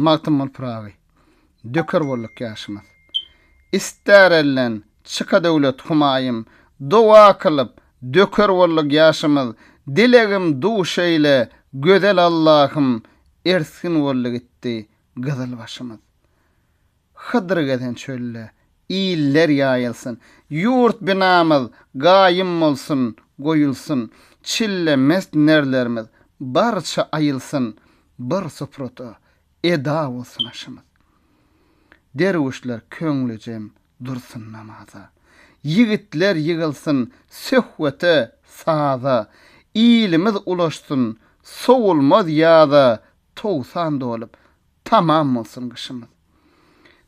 Magtymguly Pyragy, Döker bolduk ýaşymyz. Ister elden çyka döwlet humaýym, Doga kylyp, döker bolduk ýaşymyz. Dilegim duş eýle, gözel Allahym, Ersgin boldy gitdi gyzyl başymyz. Hydyr gezen çölde, iller ýaýylsyn. Ýurt binamyz gaýym bolsun, goýulsyn. Çille mest nerlerimiz barça aýylsyn. Bir suprada eda bolsun aşymyz. Derwüşler köňlüjem dursun namaza. Ýigitler ýygylsyn söhbete, saza. Ilimiz ulaşsyn sowulmaz ýaza. Togsan dolup, Tamam bolsun gyşymyz.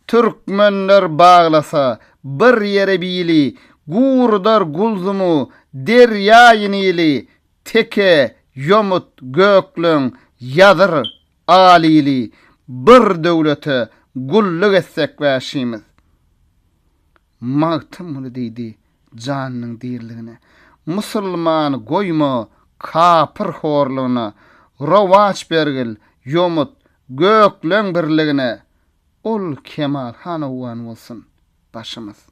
Türkmenler baglasa bir ýere bili, Gurudar Gulzumu, Derýaýy Nili, Teke, Ýomut, Gökleň, Ýazyr, Alili, Bir döwlete gulluk etsek wäşimiz. Magtymguly diýdi janynyň diriligine. Musulman goýma kapyr horlugyna, Rowaç bergil, ýomut, gökleň birligine, Ol Kemal han owgan bolsun, başymyz.